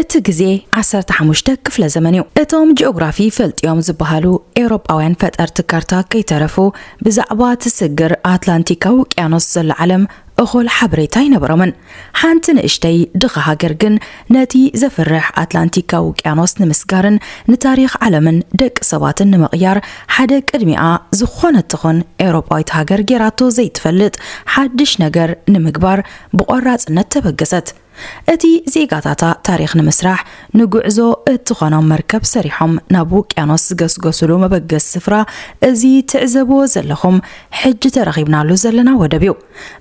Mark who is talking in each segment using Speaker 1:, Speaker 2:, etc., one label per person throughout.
Speaker 1: እቲ ግዜ ዓሰርተ ሓሙሽተ ክፍለ ዘመን እዩ። እቶም ጂኦግራፊ ፈልጥዮም ዝበሃሉ ኤውሮጳውያን ፈጠርቲ ካርታ ከይተረፉ ብዛዕባ ትስግር ኣትላንቲካዊ ውቅያኖስ ዘሎ ዓለም እኹል ሓበሬታ ኣይነበሮምን። ሓንቲ ንእሽተይ ድኻ ሃገር ግን ነቲ ዘፍርሕ ኣትላንቲካዊ ውቅያኖስ ንምስጋርን ንታሪኽ ዓለምን ደቂ ሰባትን ንምቕያር ሓደ ቅድሚኣ ዝኾነት ትኹን ኤውሮጳዊት ሃገር ጌራቶ ዘይትፈልጥ ሓድሽ ነገር ንምግባር ብቖራጽነት ተበገሰት። እቲ ዜጋታታ ታሪኽ ንምስራሕ ንጉዕዞ እትኾኖም መርከብ ሰሪሖም ናብ ውቅያኖስ ዝገስገሱሉ መበገሲ ስፍራ እዚ ትዕዘብዎ ዘለኹም ሕጂ ተረኺብናሉ ዘለና ወደብ እዩ።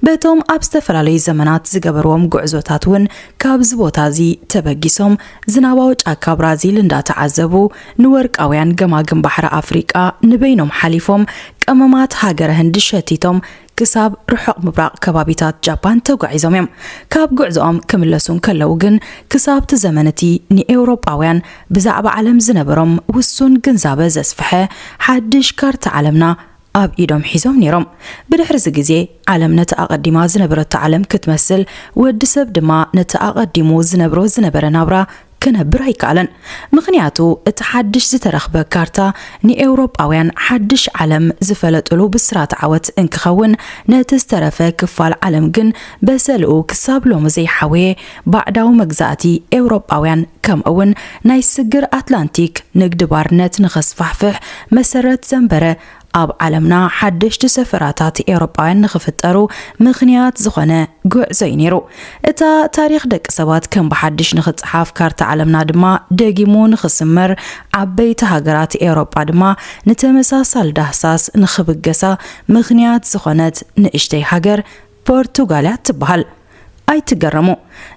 Speaker 1: በቶም ኣብ ዝተፈላለዩ ዘመናት ዝገበርዎም ጉዕዞታት እውን ካብዚ ቦታ እዚ ተበጊሶም ዝናባዊ ጫካ ብራዚል እንዳተዓዘቡ ንወርቃውያን ገማግም ባሕሪ ኣፍሪቃ ንበይኖም ሓሊፎም ቀመማት ሃገረ ህንዲ ሸቲቶም ክሳብ ርሑቕ ምብራቕ ከባቢታት ጃፓን ተጓዒዞም እዮም። ካብ ጉዕዞኦም ክምለሱ እንከለዉ ግን ክሳብ'ቲ ዘመን እቲ ንኤውሮጳውያን ብዛዕባ ዓለም ዝነበሮም ውሱን ግንዛበ ዘስፍሐ ሓድሽ ካርታ ዓለምና ኣብ ኢዶም ሒዞም ነይሮም። ብድሕሪ'ዚ ግዜ ዓለም ነቲ ኣቐዲማ ዝነበረቶ ዓለም ክትመስል፣ ወዲ ሰብ ድማ ነቲ ኣቐዲሙ ዝነብሮ ዝነበረ ናብራ ክነብር ኣይከኣለን። ምኽንያቱ እቲ ሓድሽ ዝተረኽበ ካርታ ንኤውሮጳውያን ሓድሽ ዓለም ዝፈለጡሉ ብስራት ዓወት እንክኸውን ነቲ ዝተረፈ ክፋል ዓለም ግን በሰልኡ ክሳብ ሎሚ ዘይሓወየ ባዕዳዊ መግዛእቲ ኤውሮጳውያን ከምእውን ናይ ስግር ኣትላንቲክ ንግዲ ባርነት ንኸስፋሕፍሕ መሰረት ዘንበረ ኣብ ዓለምና ሓደሽቲ ሰፈራታት ኤውሮጳውያን ንኽፍጠሩ ምኽንያት ዝኾነ ጉዕዞ እዩ ነይሩ። እታ ታሪኽ ደቂ ሰባት ከም ብሓድሽ ንኽጸሓፍ፣ ካርታ ዓለምና ድማ ደጊሙ ንኽስመር፣ ዓበይቲ ሃገራት ኤውሮጳ ድማ ንተመሳሳሊ ዳህሳስ ንኽብገሳ ምኽንያት ዝኾነት ንእሽተይ ሃገር ፖርቱጋል እያ እትበሃል። ኣይትገረሙ፣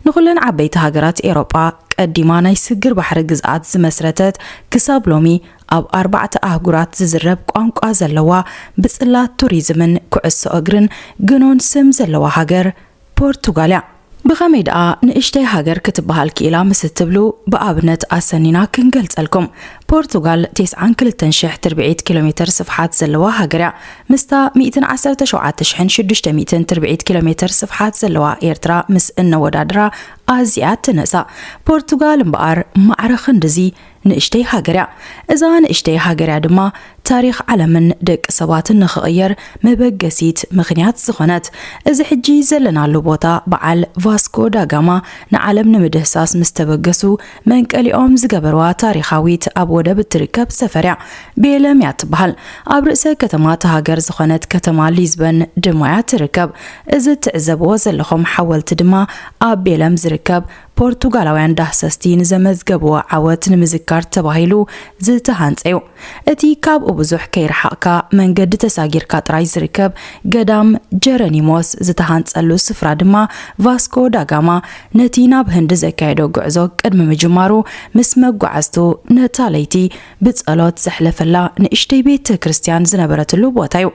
Speaker 1: ንኹለን ዓበይቲ ሃገራት ኤሮጳ ቀዲማ ናይ ስግር ባሕሪ ግዝኣት ዝመስረተት ክሳብ ሎሚ ኣብ ኣርባዕተ ኣህጉራት ዝዝረብ ቋንቋ ዘለዋ ብጽላት ቱሪዝምን ኩዕሶ እግርን ግኑን ስም ዘለዋ ሃገር ፖርቱጋል እያ። ብኸመይ ደኣ ንእሽተይ ሃገር ክትበሃል ክኢላ ምስ እትብሉ ብኣብነት ኣሰኒና ክንገልጸልኩም። ፖርቱጋል ቴስዓን ክልተን ሽሕ ትርብዒት ኪሎሜተር ስፍሓት ዘለዋ ሃገር እያ። ምስታ ሚእትን ዓሰርተ ሸውዓተ ሽሕን ሽዱሽተ ሚእትን ትርብዒት ኪሎሜተር ስፍሓት ዘለዋ ኤርትራ ምስ እነወዳድራ ኣዝያ ትንእሳ። ፖርቱጋል እምበኣር ማዕረ ክንድዚ ንእሽተይ ሃገር እያ። እዛ ንእሽተይ ሃገር እያ ድማ ታሪኽ ዓለምን ደቂ ሰባትን ንኽቕየር መበገሲት ምኽንያት ዝኾነት እዚ ሕጂ ዘለናሉ ቦታ በዓል ቫስኮ ዳጋማ ንዓለም ንምድህሳስ ምስ ተበገሱ መንቀሊኦም ዝገበርዋ ታሪኻዊት ኣብ ወደብ እትርከብ ሰፈርያ ቤለም እያ ትበሃል ኣብ ርእሰ ከተማ እታ ሃገር ዝኾነት ከተማ ሊዝበን ድማያ ትርከብ እዚ እትዕዘብዎ ዘለኹም ሓወልቲ ድማ ኣብ ቤለም ዝርከብ ፖርቱጋላውያን ዳህሰስቲ ንዘመዝገብዎ ዓወት ንምዝካር ተባሂሉ ዝተሃንጸ'ዩ። እቲ ካብኡ ብዙሕ ከይረሓቕካ መንገዲ ተሳጊርካ ጥራይ ዝርከብ ገዳም ጀረኒሞስ ዝተሃንጸሉ ስፍራ ድማ ቫስኮ ዳጋማ ነቲ ናብ ህንዲ ዘካየዶ ጉዕዞ ቅድሚ ምጅማሩ ምስ መጓዓዝቱ ነታ ለይቲ ብጸሎት ዘሕለፈላ ንእሽተይ ቤተ ክርስትያን ዝነበረትሉ ቦታ'ዩ።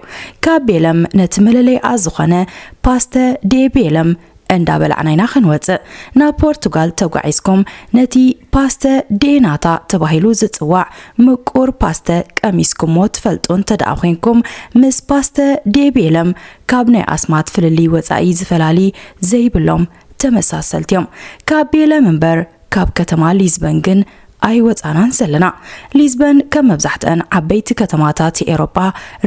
Speaker 1: ካብ ቤለም ነቲ መለለይኣ ዝኾነ ፓስተ ዴ ቤለም እንዳ በላዕና ኢና ክንወጽእ ናብ ፖርቱጋል ተጓዒዝኩም ነቲ ፓስተ ዴናታ ተባሂሉ ዝጽዋዕ ምቁር ፓስተ ቀሚስኩሞ ትፈልጡ እንተደኣ ኮንኩም ምስ ፓስተ ዴቤለም ካብ ናይ ኣስማት ፍልልይ ወጻኢ ዝፈላሊ ዘይብሎም ተመሳሰልቲ እዮም ካብ ቤለም እምበር ካብ ከተማ ሊዝበን ግን ኣይወጻናን ዘለና። ሊዝበን ከም መብዛሕትኣን ዓበይቲ ከተማታት ኤሮጳ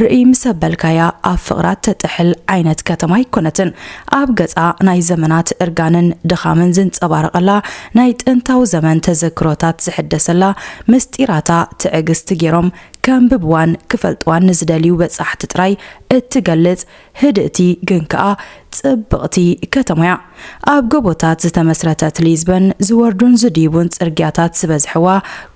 Speaker 1: ርእይ ምስ ኣበልካያ ኣብ ፍቕራ እተጥሕል ዓይነት ከተማ ኣይኮነትን። ኣብ ገጻ ናይ ዘመናት እርጋንን ድኻምን ዝንጸባረቐላ፣ ናይ ጥንታዊ ዘመን ተዘክሮታት ዝሕደሰላ፣ ምስጢራታ ትዕግስቲ ገይሮም ከንብብዋን ክፈልጥዋን ንዝደልዩ በጻሕቲ ጥራይ እትገልጽ፣ ህድእቲ ግን ከኣ ጽብቕቲ ከተማ'ያ። ኣብ ጎቦታት ዝተመስረተት ሊዝበን፣ ዝወርዱን ዝድይቡን ጽርግያታት ዝበዝሕዋ፣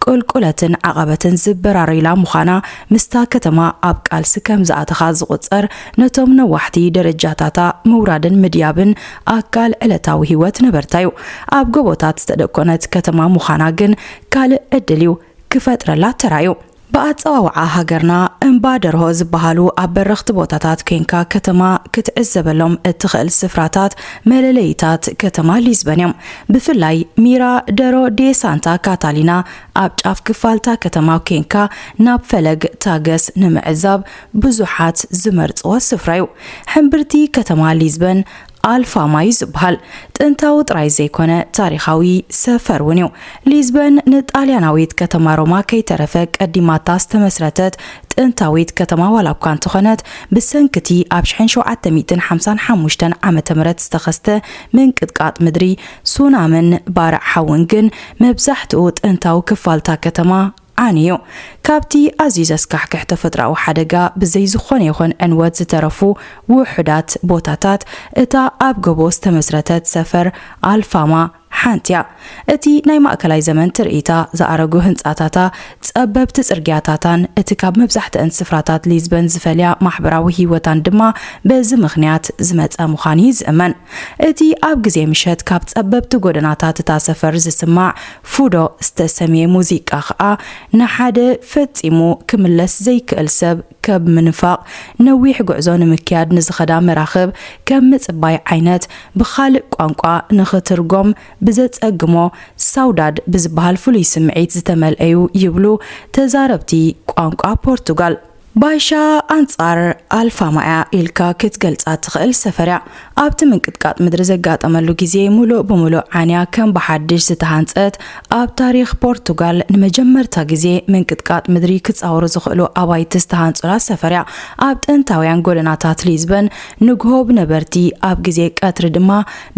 Speaker 1: ቁልቁለትን ዓቐበትን ዝበራረዩላ ምዃና፣ ምስታ ከተማ ኣብ ቃልሲ ከም ዝኣተኻ ዝቑጸር፣ ነቶም ነዋሕቲ ደረጃታታ ምውራድን ምድያብን ኣካል ዕለታዊ ህይወት ነበርታ'ዩ። ኣብ ጎቦታት ዝተደኮነት ከተማ ምዃና ግን ካልእ ዕድል'ዩ ክፈጥረላ ተራእዩ። ብኣጸዋውዓ ሃገርና እምባ ደርሆ ዝበሃሉ ኣብ በረኽቲ ቦታታት ኴንካ ከተማ ክትዕዘበሎም እትኽእል ስፍራታት መለለዪታት ከተማ ሊዝበን እዮም። ብፍላይ ሚራ ደሮ ዴ ሳንታ ካታሊና ኣብ ጫፍ ክፋል'ታ ከተማ ኴንካ ናብ ፈለግ ታገስ ንምዕዛብ ብዙሓት ዝመርጽዎ ስፍራ'ዩ። ሕምብርቲ ከተማ ሊዝበን ኣልፋ ማይ ዝበሃል ጥንታዊ ጥራይ ዘይኮነ ታሪኻዊ ሰፈር እውን እዩ። ሊዝበን ንጣልያናዊት ከተማ ሮማ ከይተረፈ ቀዲማታ ዝተመስረተት ጥንታዊት ከተማ ዋላ እኳ እንተኾነት ብሰንኪቲ ኣብ ሽሕን ሸውዓተ ሚእትን ሓምሳን ሓሙሽተን ዓመተ ምህረት ዝተኸስተ ምንቅጥቃጥ ምድሪ ሱናምን ባርዕ ሓውን ግን መብዛሕትኡ ጥንታዊ ክፋልታ ከተማ ኣነዮ። ካብቲ ኣዝዩ ዘስካሕክሕ ተፈጥሮኣዊ ሓደጋ ብዘይ ዝኾነ ይኹን ዕንወት ዝተረፉ ውሑዳት ቦታታት እታ ኣብ ጎቦ ዝተመስረተት ሰፈር ኣልፋማ ሓንቲ'ያ። እቲ ናይ ማእከላይ ዘመን ትርኢታ፣ ዝኣረጉ ህንጻታታ፣ ጸበብቲ ጽርግያታታን እቲ ካብ መብዛሕትኣን ስፍራታት ሊዝበን ዝፈልያ ማሕበራዊ ህይወታን ድማ በዚ ምኽንያት ዝመጸ ምዃኑ'ዩ ዝእመን። እቲ ኣብ ግዜ ምሸት ካብ ጸበብቲ ጎደናታት እታ ሰፈር ዝስማዕ ፉዶ ዝተሰምየ ሙዚቃ ከኣ ንሓደ ፈጺሙ ክምለስ ዘይክእል ሰብ ከብ ምንፋቕ ነዊሕ ጉዕዞ ንምክያድ ንዝኸዳ መራኽብ ከም ምጽባይ ዓይነት ብኻልእ ቋንቋ ንኽትርጎም ብዘጸግሞ ሳውዳድ ብዝበሃል ፍሉይ ስምዒት ዝተመልኣ'ዩ ይብሉ ተዛረብቲ ቋንቋ ፖርቱጋል። ባይሻ ኣንጻር ኣልፋማ'ያ ኢልካ ክትገልጻ እትኽእል ሰፈር'ያ። ኣብቲ ምንቅጥቃጥ ምድሪ ዘጋጠመሉ ግዜ ምሉእ ብምሉእ ዓንያ ከም ብሓድሽ ዝተሃንጸት፣ ኣብ ታሪኽ ፖርቱጋል ንመጀመርታ ግዜ ምንቅጥቃጥ ምድሪ ክጻወሩ ዝኽእሉ ኣባይቲ ዝተሃንጹላ ሰፈር'ያ። ኣብ ጥንታውያን ጎደናታት ሊዝበን ንግሆ ብነበርቲ ኣብ ግዜ ቀትሪ ድማ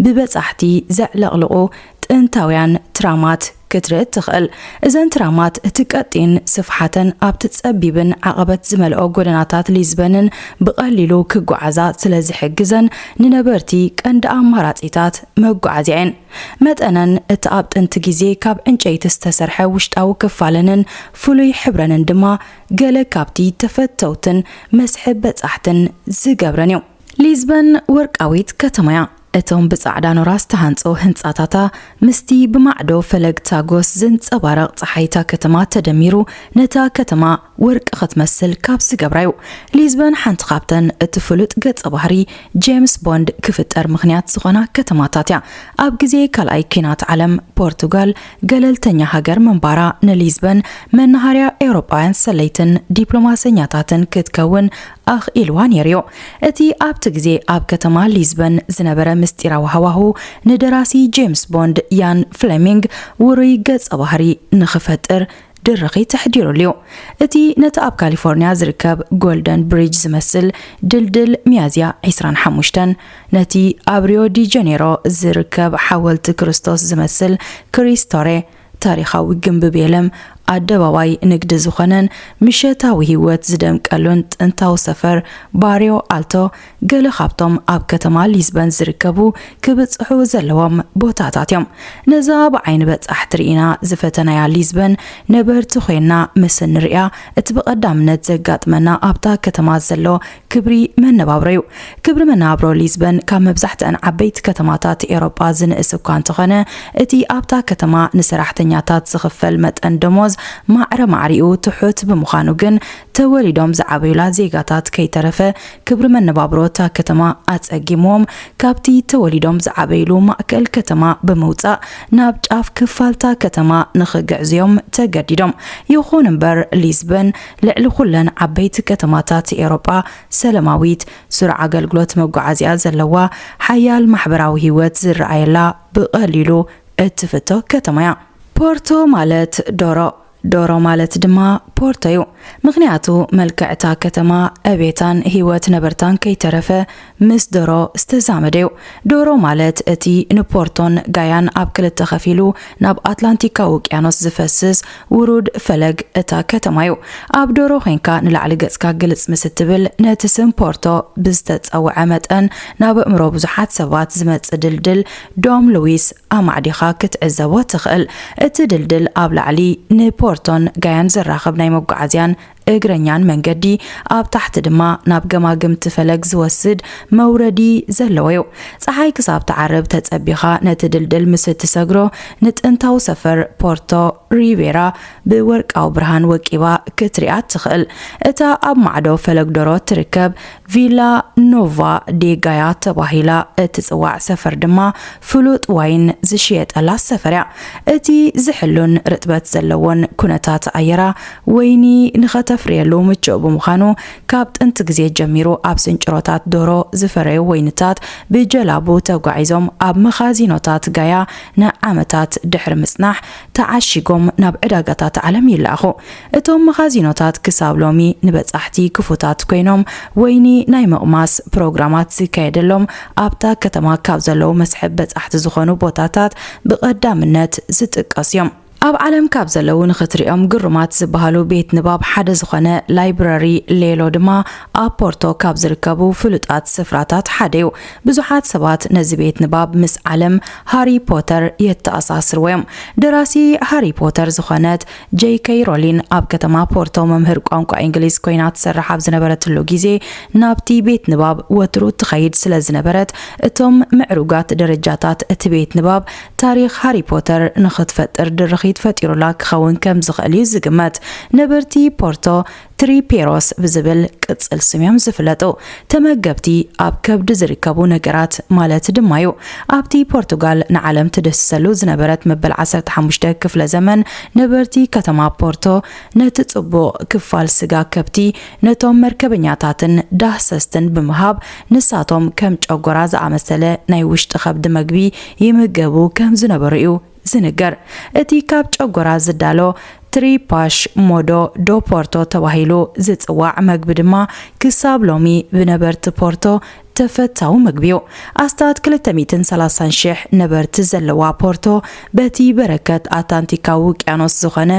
Speaker 1: ብበጻሕቲ ዘዕለቕልቑ ጥንታውያን ትራማት ክትርኢ እትኽእል። እዘን ትራማት እቲ ቀጢን ስፍሓተን ኣብቲ ጸቢብን ዓቐበት ዝመልኦ ጎደናታት ሊዝበንን ብቐሊሉ ክጓዓዛ ስለ ዝሕግዘን ንነበርቲ ቀንዲ ኣማራጺታት መጓዓዝያ እየን። መጠነን፣ እቲ ኣብ ጥንቲ ግዜ ካብ ዕንጨይቲ ዝተሰርሐ ውሽጣዊ ክፋለንን ፍሉይ ሕብረንን ድማ ገለ ካብቲ ተፈተውትን መስሕብ በጻሕትን ዝገብረን እዩ። ሊዝበን ወርቃዊት ከተማ'ያ። እቶም ብጻዕዳ ኖራ ዝተሃንጾ ህንጻታታ ምስቲ ብማዕዶ ፈለግ ታጎስ ዝንጸባረቕ ጸሓይ'ታ ከተማ ተደሚሩ ነታ ከተማ ወርቂ ክትመስል ካብ ዝገብራ'ዩ። ሊዝበን ሓንቲ ካብተን እቲ ፍሉጥ ገጸ ባህሪ ጄምስ ቦንድ ክፍጠር ምኽንያት ዝኾና ከተማታት'ያ። ኣብ ግዜ ካልኣይ ኲናት ዓለም ፖርቱጋል ገለልተኛ ሃገር ምንባራ ንሊዝበን መነሃርያ ኤውሮጳውያን ሰለይትን ዲፕሎማሰኛታትን ክትከውን ኣኽ ኢልዋ ነይሩዮ። እቲ ኣብቲ ግዜ ኣብ ከተማ ሊዝበን ዝነበረ ምስጢራዊ ሃዋሁ፣ ንደራሲ ጄምስ ቦንድ ኢያን ፍለሚንግ ውሩይ ገጸ ባህሪ ንኽፈጥር ድርኺት ኣሕዲሩሉዮ። እቲ ነቲ ኣብ ካሊፎርንያ ዝርከብ ጎልደን ብሪጅ ዝመስል ድልድል ሚያዝያ ዕስራን ሓሙሽተን፣ ነቲ ኣብ ሪዮ ዲ ጀኔሮ ዝርከብ ሓወልቲ ክርስቶስ ዝመስል ክሪስቶሬ፣ ታሪኻዊ ግምቢ ቤለም ኣደባባይ ንግዲ ዝኾነን ምሸታዊ ህይወት ዝደምቀሉን ጥንታዊ ሰፈር ባርዮ ኣልቶ ገለ ካብቶም ኣብ ከተማ ሊዝበን ዝርከቡ ክብጽሑ ዘለዎም ቦታታት እዮም። ነዛ ብዓይኒ በጻሕቲ ርኢና ዝፈተናያ ሊዝበን ነበርቲ ኮይና ምስ እንርእያ እቲ ብቐዳምነት ዘጋጥመና ኣብታ ከተማ ዘሎ ክብሪ መነባብሮ'ዩ። ክብሪ መነባብሮ ሊዝበን ካብ መብዛሕትኣን ዓበይቲ ከተማታት ኤውሮጳ ዝንእስ እኳ እንተኾነ፣ እቲ ኣብታ ከተማ ንሰራሕተኛታት ዝኽፈል መጠን ደሞዝ ማዕረ ማዕሪኡ ትሑት ብምዃኑ ግን ተወሊዶም ዝዓበዩላ ዜጋታት ከይተረፈ ክብሪ መነባብሮ እታ ከተማ ኣጸጊምዎም ካብቲ ተወሊዶም ዝዓበዩሉ ማእከል ከተማ ብምውጻእ ናብ ጫፍ ክፋል'ታ ከተማ ንኽግዕዙ'ዮም ተገዲዶም። ይኹን'ምበር ሊዝበን ልዕሊ ኩለን ዓበይቲ ከተማታት ኤውሮጳ ሰለማዊት፣ ስሩዕ ኣገልግሎት መጓዓዝያ ዘለዋ፣ ሓያል ማሕበራዊ ህይወት ዝረኣየላ ብቐሊሉ እትፍቶ ከተማ'ያ። ፖርቶ ማለት ዶሮ፣ ዶሮ ማለት ድማ ፖርቶ'ዩ። ምኽንያቱ መልክዕ'ታ ከተማ ዕቤታን ህይወት ነበርታን ከይተረፈ ምስ ደሮ ዝተዛመደ እዩ። ደሮ ማለት እቲ ንፖርቶን ጋያን ኣብ ክልተ ከፊሉ ናብ ኣትላንቲካዊ ውቅያኖስ ዝፈስስ ውሩድ ፈለግ እታ ከተማ እዩ። ኣብ ደሮ ኮይንካ ንላዕሊ ገጽካ ግልጽ ምስ እትብል ነቲ ስም ፖርቶ ብዝተጸውዐ መጠን ናብ ኣእምሮ ብዙሓት ሰባት ዝመጽእ ድልድል ዶም ሉዊስ ኣማዕዲኻ ክትዕዘቦ ትኽእል። እቲ ድልድል ኣብ ላዕሊ ንፖርቶን ጋያን ዘራኽብ ናይ መጓዓዝያን እግረኛን መንገዲ ኣብ ታሕቲ ድማ ናብ ገማግምቲ ፈለግ ዝወስድ መውረዲ ዘለዎ እዩ። ፀሓይ ክሳብ ትዓርብ ተፀቢኻ ነቲ ድልድል ምስ እትሰግሮ ንጥንታዊ ሰፈር ፖርቶ ሪቤራ ብወርቃዊ ብርሃን ወቂባ ክትሪኣ እትኽእል እታ ኣብ ማዕዶ ፈለግ ዶሮ እትርከብ ቪላ ኖቫ ዴ ጋያ ተባሂላ እትጽዋዕ ሰፈር ድማ ፍሉጥ ዋይን ዝሽየጠላ ሰፈር እያ። እቲ ዝሕሉን ርጥበት ዘለዎን ኩነታት ኣየራ፣ ወይኒ ንኸተፍርየሉ ምቹእ ብምዃኑ፣ ካብ ጥንቲ ግዜ ጀሚሩ ኣብ ስንጭሮታት ዶሮ ዝፈረዩ ወይንታት ብጀላቡ ተጓዒዞም ኣብ መኻዚኖታት ጋያ ንዓመታት ድሕሪ ምጽናሕ፣ ተዓሺጎም ናብ ዕዳጋታት ዓለም ይለኣኹ። እቶም መኻዚኖታት ክሳብ ሎሚ ንበጻሕቲ ክፉታት ኰይኖም፣ ወይኒ ናይ ምቕማስ ፕሮግራማት ዝካየደሎም ኣብታ ከተማ ካብ ዘለዉ መስሕብ በጻሕቲ ዝዀኑ ቦታታት ብቐዳምነት ዝጥቀሱ እዮም። ኣብ ዓለም ካብ ዘለዉ ንኽትርእዮም ግሩማት ዝበሃሉ ቤት ንባብ ሓደ ዝዀነ ላይብረሪ ሌሎ ድማ ኣብ ፖርቶ ካብ ዝርከቡ ፍሉጣት ስፍራታት ሓደ'ዩ። ብዙሓት ሰባት ነዚ ቤት ንባብ ምስ ዓለም ሃሪ ፖተር የተኣሳስርዎ'ዮም። ደራሲ ሃሪ ፖተር ዝኾነት ጀይ ከይ ሮሊን ኣብ ከተማ ፖርቶ መምህር ቋንቋ ኢንግሊዝ ኮይና ትሰርሕ ኣብ ዝነበረትሉ ግዜ ናብቲ ቤት ንባብ ወትሩ ትኸይድ ስለ ዝነበረት እቶም ምዕሩጋት ደረጃታት እቲ ቤት ንባብ ታሪኽ ሃሪ ፖተር ንኽትፈጥር ድርኺት ፈጢሩላ ክኸውን ከም ዝኽእል'ዩ ዝግመት። ነበርቲ ፖርቶ ትሪፔሮስ ብዝብል ቅጽል ስም'ዮም ዝፍለጡ። ተመገብቲ ኣብ ከብዲ ዝርከቡ ነገራት ማለት ድማ'ዩ። ኣብቲ ፖርቱጋል ንዓለም ትድህስሰሉ ዝነበረት መበል ዓሰርተ ሓሙሽተ ክፍለ ዘመን፣ ነበርቲ ከተማ ፖርቶ ነቲ ጽቡቕ ክፋል ስጋ ከብቲ ነቶም መርከበኛታትን ዳህሰስትን ብምሃብ ንሳቶም ከም ጨጎራ ዝኣመሰለ ናይ ውሽጢ ከብዲ መግቢ ይምገቡ ከም ዝነበሩ'ዩ ዝንገር እቲ ካብ ጨጎራ ዝዳሎ ትሪፓሽ ሞዶ ዶ ፖርቶ ተባሂሉ ዝጽዋዕ መግቢ ድማ ክሳብ ሎሚ ብነበርቲ ፖርቶ ተፈታዊ መግቢ'ዩ። ኣስታት ክልተ ሚእትን ሰላሳን ሽሕ ነበርቲ ዘለዋ ፖርቶ በቲ በረከት ኣታንቲካዊ ውቅያኖስ ዝኾነ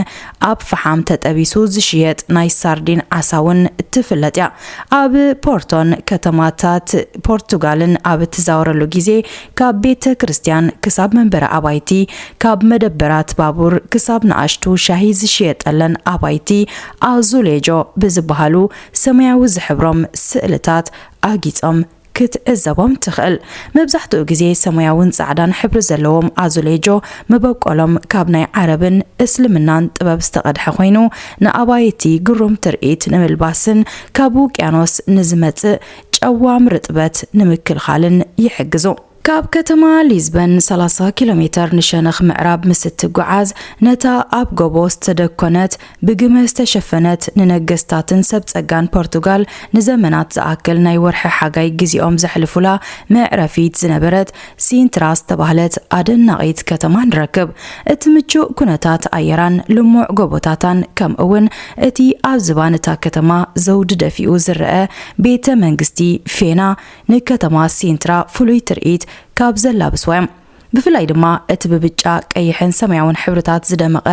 Speaker 1: ኣብ ፍሓም ተጠቢሱ ዝሽየጥ ናይ ሳርዲን ዓሳ'ውን ትፍለጥ'ያ። ኣብ ፖርቶን ከተማታት ፖርቱጋልን ኣብ እትዛወረሉ ግዜ ካብ ቤተ ክርስቲያን ክሳብ መንበሪ ኣባይቲ፣ ካብ መደበራት ባቡር ክሳብ ንኣሽቱ ሻሂ ዝሽየጠለን ኣባይቲ ኣዙሌጆ ብዝበሃሉ ሰማያዊ ዝሕብሮም ስእልታት ኣጊጾም ክትዕዘቦም ትኽእል። መብዛሕትኡ ግዜ ሰማያውን ጻዕዳን ሕብሪ ዘለዎም ኣዙሌጆ መበቆሎም ካብ ናይ ዓረብን እስልምናን ጥበብ ዝተቐድሐ ኮይኑ፣ ንኣባይቲ ግሩም ትርኢት ንምልባስን ካብ ውቅያኖስ ንዝመጽእ ጨዋም ርጥበት ንምክልኻልን ይሕግዙ። ካብ ከተማ ሊዝበን ሰላሳ ኪሎ ሜተር ንሸነኽ ምዕራብ ምስ እትጉዓዝ፣ ነታ ኣብ ጎቦ ዝተደኮነት፣ ብግመ ዝተሸፈነት፣ ንነገስታትን ሰብ ጸጋን ፖርቱጋል ንዘመናት ዝኣክል ናይ ወርሒ ሓጋይ ግዜኦም ዘሕልፉላ መዕረፊት ዝነበረት ሲንትራ ዝተባህለት ኣደናቒት ከተማ ንረክብ። እቲ ምቹእ ኵነታት ኣየራን ልሙዕ ጎቦታታን ከምኡውን እቲ ኣብ ዝባን እታ ከተማ ዘውዲ ደፊኡ ዝረኣ ቤተ መንግስቲ ፌና ንከተማ ሲንትራ ፍሉይ ትርኢት ካብ ዘላብስዋ እዮም። ብፍላይ ድማ እቲ ብብጫ፣ ቀይሕን ሰማያውን ሕብርታት ዝደመቐ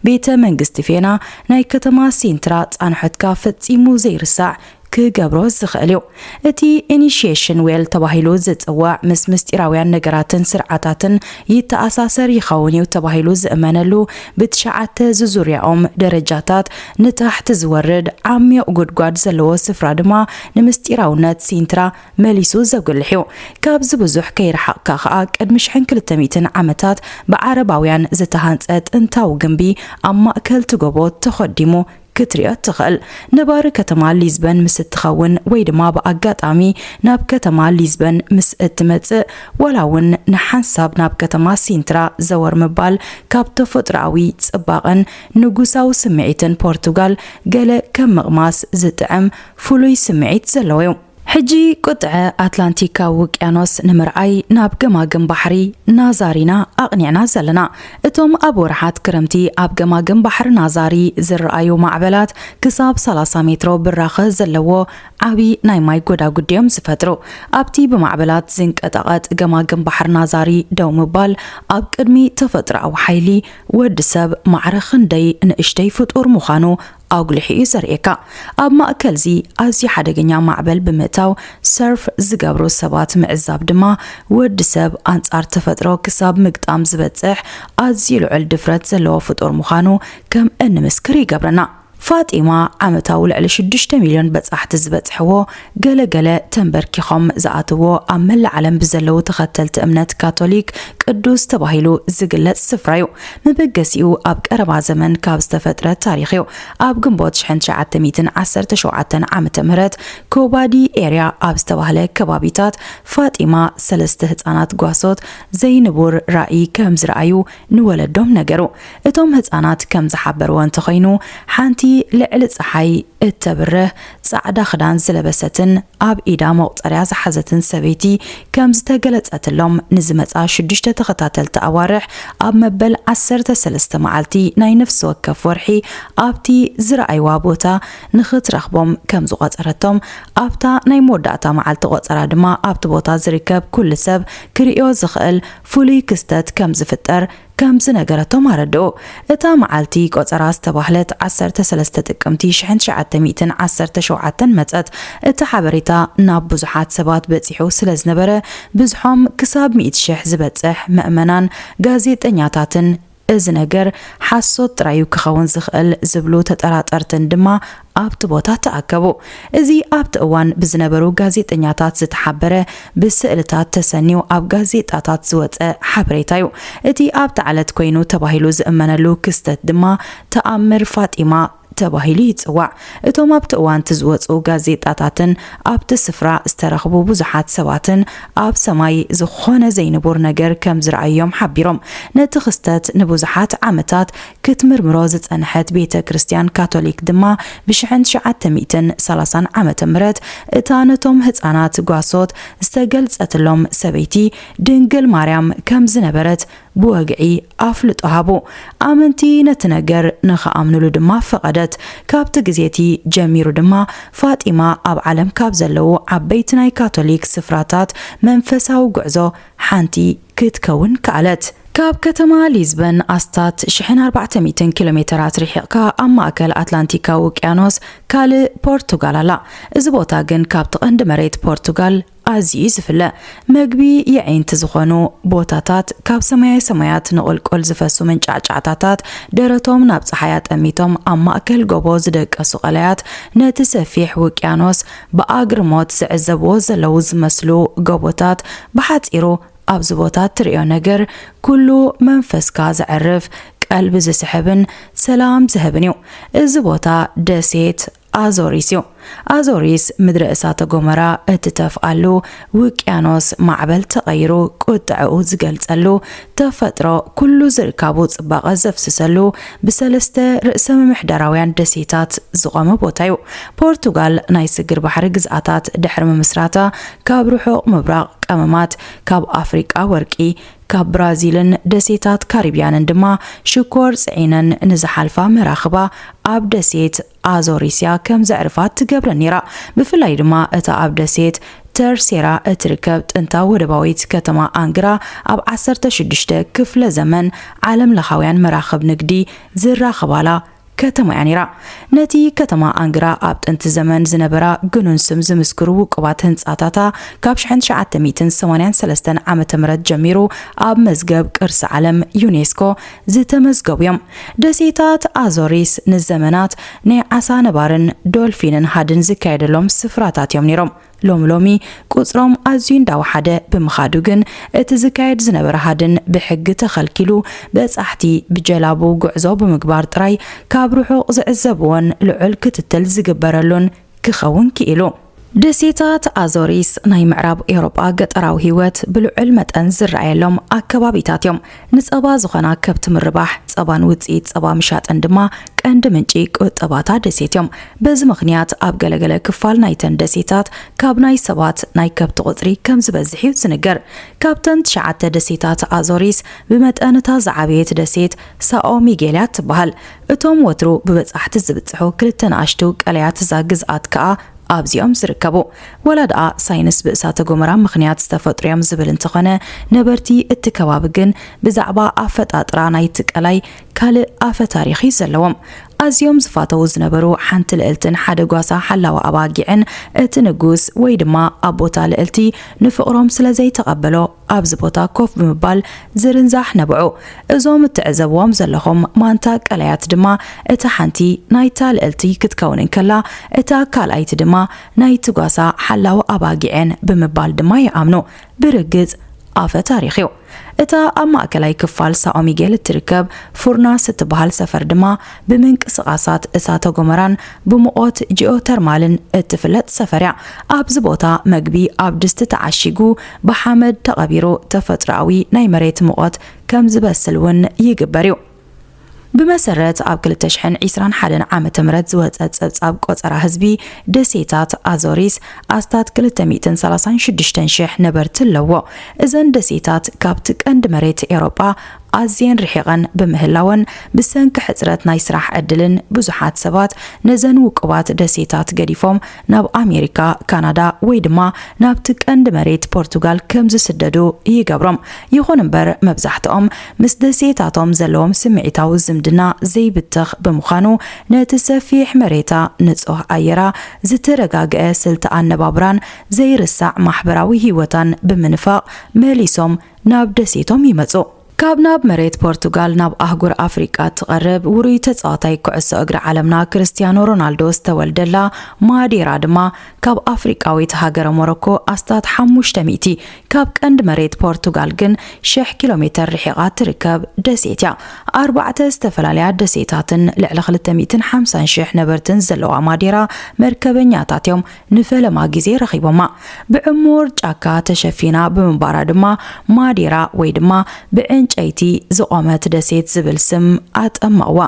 Speaker 1: ቤተ መንግስቲ ፌና ናይ ከተማ ሲንትራ ፃንሖትካ ፈፂሙ ዘይርሳዕ ክገብሮ ዝኽእል እዩ። እቲ ኢኒሺዬሽን ዌል ተባሂሉ ዝጽዋዕ ምስ ምስጢራውያን ነገራትን ስርዓታትን ይተኣሳሰር ይኸውን እዩ ተባሂሉ ዝእመነሉ ብትሽዓተ ዝዙርያኦም ደረጃታት ንታሕት ዝወርድ ዓሚቕ ጉድጓድ ዘለዎ ስፍራ ድማ ንምስጢራውነት ሲንትራ መሊሱ ዘጉልሕ እዩ። ካብዚ ብዙሕ ከይረሓቕካ ከኣ ቅድሚ ሽሕን ክልተ ሚእትን ዓመታት ብዓረባውያን ዝተሃንጸ ጥንታዊ ግምቢ ኣብ ማእከል እቲ ጎቦ ተኾዲሙ ክትሪኦ እትኽእል። ነባሪ ከተማ ሊዝበን ምስ እትኸውን ወይ ድማ ብኣጋጣሚ ናብ ከተማ ሊዝበን ምስ እትመጽእ፣ ዋላ እውን ንሓንሳብ ናብ ከተማ ሲንትራ ዘወር ምባል ካብ ተፈጥሮኣዊ ጽባቐን ንጉሳዊ ስምዒትን ፖርቱጋል ገለ ከም ምቕማስ ዝጥዕም ፍሉይ ስምዒት ዘለዎ እዩ። ሕጂ ቁጥዐ ኣትላንቲካዊ ውቅያኖስ ንምርኣይ ናብ ገማግም ባሕሪ ናዛሪ ኢና ኣቕኒዕና ዘለና። እቶም ኣብ ወርሓት ክረምቲ ኣብ ገማግም ባሕሪ ናዛሪ ዝርኣዩ ማዕበላት ክሳብ ሰላሳ ሜትሮ ብራኸ ዘለዎ ዓቢ ናይ ማይ ጎዳጉዲ'ዮም ዝፈጥሩ። ኣብቲ ብማዕበላት ዝንቀጠቐጥ ገማግም ባሕሪ ናዛሪ ደው ምባል ኣብ ቅድሚ ተፈጥሮኣዊ ሓይሊ ወዲ ሰብ ማዕረ ክንደይ ንእሽተይ ፍጡር ምዃኑ ኣጉሊሑ እዩ ዘርእየካ። ኣብ ማእከልዚ ኣዝዩ ሓደገኛ ማዕበል ብምእታው ሰርፍ ዝገብሩ ሰባት ምዕዛብ ድማ ወዲ ሰብ ኣንጻር ተፈጥሮ ክሳብ ምግጣም ዝበጽሕ ኣዝዩ ልዑል ድፍረት ዘለዎ ፍጡር ምዃኑ ከም እንምስክር ይገብረና። ፋጢማ ዓመታዊ ልዕሊ ሽዱሽተ ሚልዮን በጻሕቲ ዝበጽሕዎ ገለ ገለ ተንበርኪኾም ዝኣትዎ ኣብ መላእ ዓለም ብዘለዉ ተኸተልቲ እምነት ካቶሊክ ቅዱስ ተባሂሉ ዝግለጽ ስፍራ እዩ። መበገሲኡ ኣብ ቀረባ ዘመን ካብ ዝተፈጥረ ታሪኽ እዩ። ኣብ ግንቦት ሽሕን ትሽዓተ ሚእትን ዓሰርተ ሸውዓተን ዓመተ ምህረት ኮባዲ ኤርያ ኣብ ዝተባህለ ከባቢታት ፋጢማ ሰለስተ ህጻናት ጓሶት ዘይንቡር ራኢ ከም ዝረኣዩ ንወለዶም ነገሩ። እቶም ህጻናት ከም ዝሓበርዎ እንተኾይኑ ሓንቲ ልዕሊ ጸሓይ እተብርህ ጻዕዳ ክዳን ዝለበሰትን ኣብ ኢዳ መቑጸርያ ዝሓዘትን ሰበይቲ ከም ዝተገለጸትሎም ንዝመጻ ሽዱሽተ ተኸታተልቲ ኣዋርሕ ኣብ መበል ዓሰርተ ሰለስተ መዓልቲ ናይ ነፍሲ ወከፍ ወርሒ ኣብቲ ዝረኣይዋ ቦታ ንኽትረኽቦም ከም ዝቖጸረቶም ኣብታ ናይ መወዳእታ መዓልቲ ቆጸራ ድማ ኣብቲ ቦታ ዝርከብ ኩሉ ሰብ ክርእዮ ዝኽእል ፍሉይ ክስተት ከም ዝፍጠር ከም ዝነገረቶም ኣረድኡ። እታ መዓልቲ ቆጸራ ዝተባህለት ዓሰርተ ሰለስተ ጥቅምቲ ሽሕን ትሽዓተ ሚእትን ዓሰርተ ሸውዓተን መጸት። እቲ ሓበሬታ ናብ ብዙሓት ሰባት በጺሑ ስለ ዝነበረ ብዝሖም ክሳብ ሚእቲ ሽሕ ዝበጽሕ መእመናን ጋዜጠኛታትን እዚ ነገር ሓሶት ጥራይ'ዩ ክኸውን ዝኽእል ዝብሉ ተጠራጠርትን ድማ ኣብቲ ቦታ ተኣከቡ። እዚ ኣብቲ እዋን ብዝነበሩ ጋዜጠኛታት ዝተሓበረ ብስእልታት ተሰንዩ ኣብ ጋዜጣታት ዝወጸ ሓበሬታ'ዩ። እቲ ኣብታ ዕለት ኮይኑ ተባሂሉ ዝእመነሉ ክስተት ድማ ተኣምር ፋጢማ ተባሂሉ ይጽዋዕ። እቶም ኣብቲ እዋን'ቲ ዝወጹ ጋዜጣታትን ኣብቲ ስፍራ ዝተረኽቡ ብዙሓት ሰባትን ኣብ ሰማይ ዝኾነ ዘይንቡር ነገር ከም ዝረኣዩ'ዮም ሓቢሮም። ነቲ ክስተት ንብዙሓት ዓመታት ክትምርምሮ ዝጸንሐት ቤተ ክርስቲያን ካቶሊክ ድማ ብሽሕን ትሽዓተ ሚእትን ሰላሳን ዓመተ ምህረት እታ ነቶም ህጻናት ጓሶት ዝተገልጸትሎም ሰበይቲ ድንግል ማርያም ከም ዝነበረት ብወግዒ ኣፍልጦ ሃቡ። ኣመንቲ ነቲ ነገር ንኽኣምኑሉ ድማ ፈቐደት። ካብቲ ግዜ እቲ ጀሚሩ ድማ ፋጢማ ኣብ ዓለም ካብ ዘለዉ ዓበይቲ ናይ ካቶሊክ ስፍራታት መንፈሳዊ ጉዕዞ ሓንቲ ክትከውን ከኣለት። ካብ ከተማ ሊዝበን ኣስታት ሽሕን ኣርባዕተ ሚእትን ኪሎ ሜተራት ርሒቕካ ኣብ ማእከል ኣትላንቲካዊ ውቅያኖስ ካልእ ፖርቱጋል ኣላ። እዚ ቦታ ግን ካብቲ ቀንዲ መሬት ፖርቱጋል ኣዝዩ'ዩ ዝፍለ። መግቢ የዒንቲ ዝኾኑ ቦታታት፣ ካብ ሰማየ ሰማያት ንቑልቁል ዝፈሱ መንጫዕጫዕታታት ደረቶም ናብ ጸሓይ ኣጠሚቶም ኣብ ማእከል ጎቦ ዝደቀሱ ቀላያት ነቲ ሰፊሕ ውቅያኖስ ብኣግርሞት ዝዕዘብዎ ዘለዉ ዝመስሉ ጎቦታት ብሓጺሩ ኣብዚ ቦታ እትርእዮ ነገር ኩሉ መንፈስካ ዘዕርፍ ቀልቢ ዝስሕብን ሰላም ዝህብን እዩ። እዚ ቦታ ደሴት ኣዞሪስ እዩ። ኣዞሪስ ምድረ እሳተ ጎመራ እትተፍኣሉ፣ ውቅያኖስ ማዕበል ተቐይሩ ቁጥዐኡ ዝገልጸሉ፣ ተፈጥሮ ኩሉ ዝርካቡ ጽባቐ ዘፍስሰሉ ብሰለስተ ርእሰ-ምምሕዳራውያን ደሴታት ዝቖመ ቦታ'ዩ። ፖርቱጋል ናይ ስግር ባሕሪ ግዝኣታት ድሕሪ ምምስራታ ካብ ርሑቕ ምብራቕ ቀመማት፣ ካብ ኣፍሪቃ ወርቂ፣ ካብ ብራዚልን ደሴታት ካሪብያንን ድማ ሽኮር ጽዒነን ንዝሓልፋ መራኽባ ኣብ ደሴት ኣዞሪስያ ከም ዘዕርፋት ትገብረን ነይራ። ብፍላይ ድማ እታ ኣብ ደሴት ተርሴራ እትርከብ ጥንታዊ ወደባዊት ከተማ ኣንግራ ኣብ 16 ክፍለ ዘመን ዓለም ለኻውያን መራኽብ ንግዲ ዝራኸባላ ከተማ እያ ነይራ። ነቲ ከተማ ኣንግራ ኣብ ጥንቲ ዘመን ዝነበራ ግኑን ስም ዝምስክሩ ውቁባት ህንጻታታ ካብ 1983 ዓ ም ጀሚሩ ኣብ መዝገብ ቅርሲ ዓለም ዩኔስኮ ዝተመዝገቡ እዮም። ደሴታት ኣዞሪስ ንዘመናት ናይ ዓሳ ነባርን ዶልፊንን ሃድን ዝካየደሎም ስፍራታት እዮም ነይሮም። ሎሚ ሎሚ ቁጽሮም ኣዝዩ እንዳወሓደ ብምኻዱ ግን እቲ ዝካየድ ዝነበረ ሃድን ብሕጊ ተኸልኪሉ በጻሕቲ ብጀላቡ ጉዕዞ ብምግባር ጥራይ ካብ ርሑቕ ዝዕዘብዎን ልዑል ክትትል ዝግበረሉን ክኸውን ክኢሉ። ደሴታት ኣዞሪስ ናይ ምዕራብ ኤውሮጳ ገጠራዊ ህይወት ብልዑል መጠን ዝረኣየሎም ኣከባቢታት እዮም። ንጸባ ዝኾና ከብቲ ምርባሕ፣ ጸባን ውጽኢት ጸባ ምሻጥን ድማ ቀንዲ ምንጪ ቁጠባ'ታ ደሴት እዮም። በዚ ምኽንያት ኣብ ገለገለ ክፋል ናይተን ደሴታት ካብ ናይ ሰባት ናይ ከብቲ ቁጽሪ ከም ዝበዝሕ እዩ ዝንገር። ካብተን ትሽዓተ ደሴታት ኣዞሪስ ብመጠን እታ ዝዓበየት ደሴት ሳኦ ሚጌል እያ እትበሃል። እቶም ወትሩ ብበጻሕቲ ዝብጽሑ ክልተ ንኣሽቱ ቀላያት እዛ ግዝኣት ከኣ ኣብዚ'ዮም ዝርከቡ። ዋላ ደኣ ሳይንስ ብእሳተ-ጎመራ ምኽንያት ዝተፈጥሩ'ዮም ዝብል እንተኾነ፣ ነበርቲ እቲ ከባቢ ግን ብዛዕባ ኣፈጣጥራ ናይቲ ቀላይ ካልእ ኣፈ-ታሪኽ'ዩ ዘለዎም። ኣዝዮም ዝፋተዉ ዝነበሩ ሓንቲ ልእልትን ሓደ ጓሳ ሓላዊ ኣባጊዕን እቲ ንጉስ ወይ ድማ ኣቦ'ታ ልእልቲ ንፍቕሮም ስለ ዘይተቐበሎ፣ ኣብዚ ቦታ ኮፍ ብምባል ዝርንዛሕ ነበዑ። እዞም እትዕዘብዎም ዘለኹም ማንታ ቀላያት ድማ እታ ሓንቲ ናይታ ልእልቲ ክትከውን እንከላ እታ ካልኣይቲ ድማ ናይቲ ጓሳ ሓላው ኣባጊዕ'የን ብምባል ድማ ይኣምኑ። ብርግጽ ኣፈ ታሪኽ'ዩ። እታ ኣብ ማእከላይ ክፋል ሳኦ ሚጌል እትርከብ ፉርናስ እትበሃል ሰፈር ድማ ብምንቅስቓሳት እሳተ ጎመራን ብሙቖት ጂኦተርማልን እትፍለጥ ሰፈር'ያ። ኣብዚ ቦታ መግቢ ኣብ ድስቲ ተዓሺጉ ብሓመድ ተቐቢሩ ተፈጥሮኣዊ ናይ መሬት ሙቐት ከም ዝበስል እውን ይግበር እዩ። ብመሰረት ኣብ ክልተ ሽሕን ዒስራን ሓደን ዓመተ ምህረት ዝወጸ ጸብጻብ ቆጸራ ህዝቢ፣ ደሴታት ኣዞሪስ ኣስታት ክልተ ሚእትን ሰላሳን ሽዱሽተን ሽሕ ነበርቲ ኣለዎ። እዘን ደሴታት ካብቲ ቀንዲ መሬት ኤውሮጳ ኣዝየን ርሒቐን ብምህላወን፣ ብሰንኪ ሕጽረት ናይ ስራሕ ዕድልን ብዙሓት ሰባት ነዘን ውቁባት ደሴታት ገዲፎም ናብ ኣሜሪካ፣ ካናዳ ወይ ድማ ናብቲ ቀንዲ መሬት ፖርቱጋል ከም ዝስደዱ ይገብሮም። ይኹን እምበር መብዛሕትኦም ምስ ደሴታቶም ዘለዎም ስምዒታዊ ዝምድና ዘይብተኽ ብምዃኑ ነቲ ሰፊሕ መሬታ፣ ንጹህ ኣየራ፣ ዝተረጋግኤ ስልቲ ኣነባብራን ዘይርሳዕ ማሕበራዊ ህይወታን ብምንፋቕ መሊሶም ናብ ደሴቶም ይመጹ። ካብ ናብ መሬት ፖርቱጋል ናብ ኣህጉር ኣፍሪቃ እትቐርብ ውሩይ ተጻዋታይ ኩዕሶ እግሪ ዓለምና ክርስትያኖ ሮናልዶ ዝተወልደላ ማዴራ ድማ ካብ ኣፍሪቃዊት ሃገረ ሞሮኮ ኣስታት ሓሙሽተ ሚእቲ ካብ ቀንዲ መሬት ፖርቱጋል ግን ሽሕ ኪሎ ሜተር ርሒቓ እትርከብ ደሴት እያ። ኣርባዕተ ዝተፈላለያ ደሴታትን ልዕሊ ክልተ ሚእትን ሓምሳን ሽሕ ነበርትን ዘለዋ ማዴራ መርከበኛታት እዮም ንፈለማ ግዜ ረኺቦማ። ብዕሙር ጫካ ተሸፊና ብምንባራ ድማ ማዴራ ወይ ድማ ብዕንጨይቲ ዝቖመት ደሴት ዝብል ስም ኣጠመቕዋ።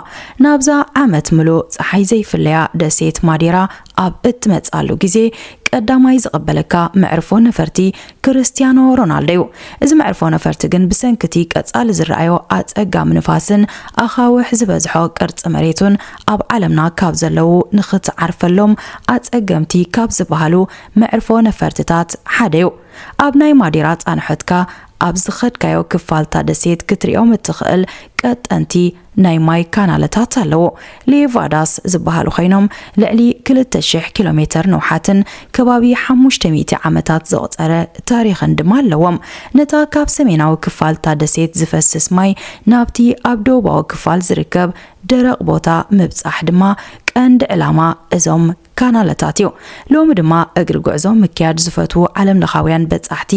Speaker 1: ናብዛ ዓመት ምሉእ ጸሓይ ዘይፍለያ ደሴት ማዴራ ኣብ እትመጽኣሉ ግዜ፣ ቀዳማይ ዝቕበለካ መዕርፎ ነፈርቲ ክርስትያኖ ሮናልዶ'ዩ። እዚ መዕርፎ ነፈርቲ ግን ብሰንኪ'ቲ ቀጻሊ ዝረኣዮ ኣጸጋሚ ንፋስን ኣኻውሕ ዝበዝሖ ቅርጺ መሬቱን ኣብ ዓለምና ካብ ዘለዉ ንኽትዓርፈሎም ኣጸገምቲ ካብ ዝበሃሉ መዕርፎ ነፈርትታት ሓደ'ዩ። ኣብ ናይ ማዴራ ጻንሖትካ ኣብ ዝኸድካዮ ክፋል'ታ ደሴት ክትሪኦም እትኽእል ቀጠንቲ ናይ ማይ ካናለታት ኣለዎ። ሌቫዳስ ዝበሃሉ ኮይኖም ልዕሊ ክልተ ሽሕ ኪሎ ሜተር ንውሓትን ከባቢ ሓሙሽተ ሚእቲ ዓመታት ዘቑጸረ ታሪኽን ድማ ኣለዎም። ነታ ካብ ሰሜናዊ ክፋል እታ ደሴት ዝፈስስ ማይ ናብቲ ኣብ ደቡባዊ ክፋል ዝርከብ ደረቕ ቦታ ምብጻሕ ድማ ቀንዲ ዕላማ እዞም ካናለታት እዩ። ሎሚ ድማ እግሪ ጉዕዞ ምክያድ ዝፈትዉ ዓለም ለኻውያን በጻሕቲ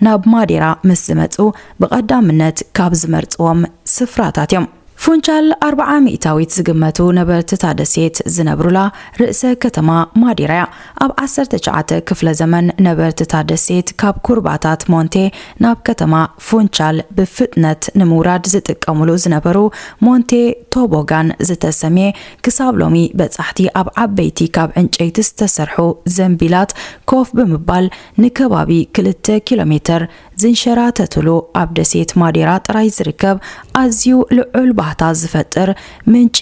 Speaker 1: ናብ ማዴራ ምስ ዝመጽኡ ብቐዳምነት ካብ ዝመርጽዎም ስፍራታት እዮም። ፉንቻል ኣርብዓ ሚእታዊት ዝግመቱ ነበርቲ እታ ደሴት ዝነብሩላ ርእሰ ከተማ ማዴራ እያ። ኣብ ዓሰርተ ትሽዓተ ክፍለ ዘመን ነበርቲ እታ ደሴት ካብ ኩርባታት ሞንቴ ናብ ከተማ ፉንቻል ብፍጥነት ንምውራድ ዝጥቀሙሉ ዝነበሩ ሞንቴ ቶቦጋን ዝተሰምየ ክሳብ ሎሚ በጻሕቲ ኣብ ዓበይቲ ካብ ዕንጨይቲ ዝተሰርሑ ዘንቢላት ኮፍ ብምባል ንከባቢ ክልተ ኪሎ ሜተር ዝንሸራተቱሉ ኣብ ደሴት ማዴራ ጥራይ ዝርከብ ኣዝዩ ልዑል ባህታ ዝፈጥር ምንጪ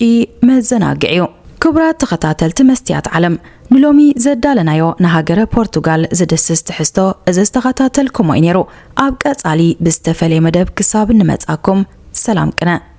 Speaker 1: መዘናግዒ እዩ። ክቡራት ተኸታተልቲ መስትያት ዓለም፣ ንሎሚ ዘዳለናዮ ንሃገረ ፖርቱጋል ዝድስስ ትሕዝቶ እዚ ዝተኸታተልኩሞ እዩ ነይሩ። ኣብ ቀጻሊ ብዝተፈልየ መደብ ክሳብ እንመጽኣኩም ሰላም ቅነ።